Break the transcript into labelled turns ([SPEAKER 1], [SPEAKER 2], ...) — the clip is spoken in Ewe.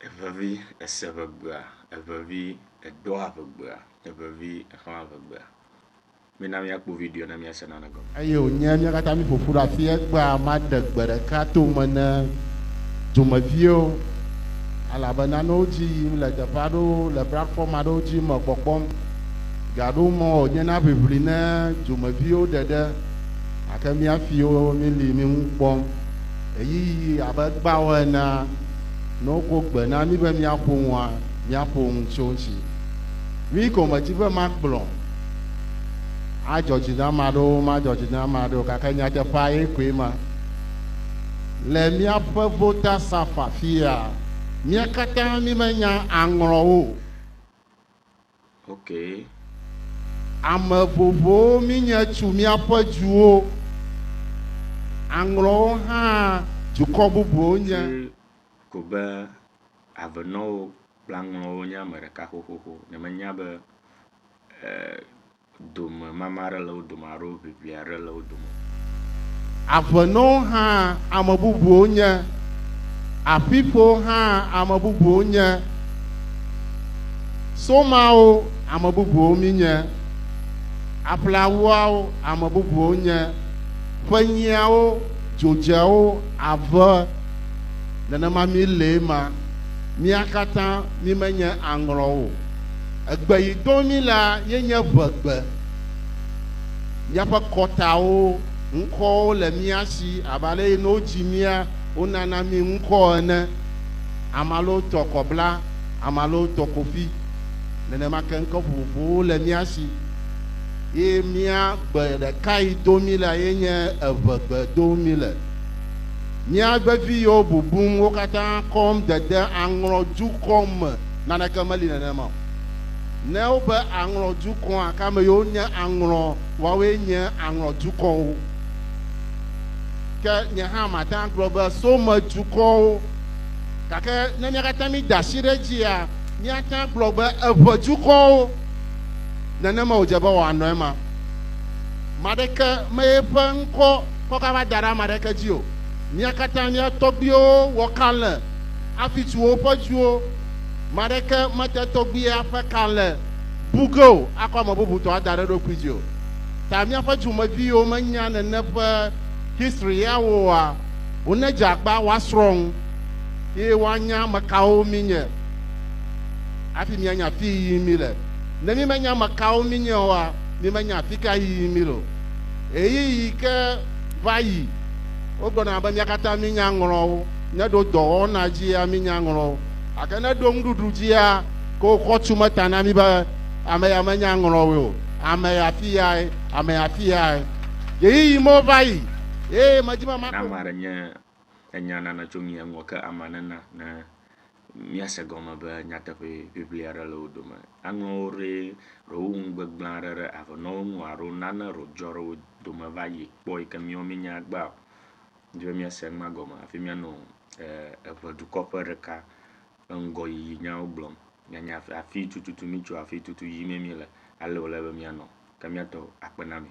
[SPEAKER 1] Evevi ese ŋegbea, evevi edoa ŋegbea, evevi exlãa ŋegbea. Mina míakpɔ video ne míase nane gɔme. Eye wònye mía katã
[SPEAKER 2] míƒo ƒu ɖe afii egbea maɖe gbe ɖeka to me ne dumeviwo, elabena ne wodzi yim le teƒe aɖewo le platfɔm aɖewo dzi me kpɔkpɔm, gaɖo mɔ wònye na ʋiʋli ne dumeviwo ɖe ɖe, gake mía fiwo míli mi ŋu kpɔm ɣeyiɣi abe egbea wɔ enea. Ne wokɔ gbe na mí be míaƒo nua, míaƒo nu tso eŋuti. Mí gɔmedzi be makplɔ adzɔ dzi na ame aɖewo, madzɔ dzi na ame aɖewo, gake nyateƒea ye koe ma. Le míaƒe votasaƒe afia, mía katã mímenya aŋlɔwo o.
[SPEAKER 1] Okay. Ame
[SPEAKER 2] vovowo minye tsu miaƒe djuwo, aŋlɔwo hã djukɔ bubuwo nye. Tsi ko be
[SPEAKER 1] avenɔwo kple aŋlɔwo nye ame ɖeka xoxoxo, nyemenya be eh, Domemama aɖe le wo dome alo ʋiʋli aɖe le wo dome.
[SPEAKER 2] Aƒenɔwo hã ame bubuwo nye. Aƒiƒewo hã ame bubuwo nye. Somawo ame bubuwo minye. Aƒleawuawo ame bubuwo nye. Ƒenyiawo, dzodzeawo, ave, nenema mi lee ma. Mia katã mimenye aŋlɔwo o. Egbe yi dom mí la ye nye ʋegbe. Míaƒe kɔtawo, ŋkɔwo le mía si abe ale yi ne wodzi mía, wonana mí ŋkɔ ene. Ame alewo tɔ kɔ bla, ame alewo tɔ kofi. Nenema ke ŋkɔ vovovowo le mía si. Ye mía gbe ɖeka yi dom mí la ye nye eʋegbe dom mí le. Mía vevi yiwo bubum wo katã kɔm dede aŋlɔ dukɔ me. Naneke meli nenema o. Ne wobe aŋlɔ dukɔa, gake ame yiwo nye aŋlɔ, woawoe nye aŋlɔ dukɔwo. Ke nye hã mate ŋu agblɔ be some dukɔwo. Gake ne mía katã mída asi ɖe edzia, míate ŋu agblɔ be eŋe dukɔwo. Nenema wòdze be wòanɔ ema. Ame aɖeke me eƒe ŋkɔ kɔ gava da ɖe ame aɖeke dzi o. Mía katã mía tɔgbuiwo wɔ kalẽ. afi tso woƒe dziwo. Ame aɖeke mete tɔgbuia ƒe kalẽ bu ge o akɔ ame bubutɔ ada ɖe eɖokui dzi o. Ta míaƒe dziwòmevi yiwo menya nène ƒe history ya oa, wonedze agba woasrɔ̃ ŋu eye woanya ame kawo míenye hafi míanya afii yiyim míle. Ne mímenya ame kawo míenye oa, mímenya afika yiyim míle o. Ɣeyiɣi ke va yi, wogblɔna be mía katã míenya ŋlɔwo. Ne ɖo dɔwɔna dzia mi nya ŋlɔ o, gake ne ɖo nuɖuɖu dzia ko xɔtu me ta na mi be ame ya me nya ŋlɔ o, ame ya fi yae, ame ya fi yae. Ɣeyiɣi mewo va yi eye medi be maɖo. Ne ame aɖe nye
[SPEAKER 1] enya nana tso mia ŋua ke amea nena ne mia se gɔme be nyateƒe ʋiʋli aɖe le wo dome. Aŋlɔ wo ɖe ɖo wo ŋu gbegblẽ aɖe ɖe avenɔwo ŋu alo nane ɖo dzɔ ɖe wo dome va yi kpɔ yi ke miawo mi nya gba o. Medi be míase nua gɔme hafi míanɔ eve dukɔ ƒe ɖeka ƒe ŋgɔyiyi nyawo gblɔm. Míanya afi tututu mítso, afi tutu yimee míele, ale wòle be míanɔ. Ke míatɔ akpe na mi.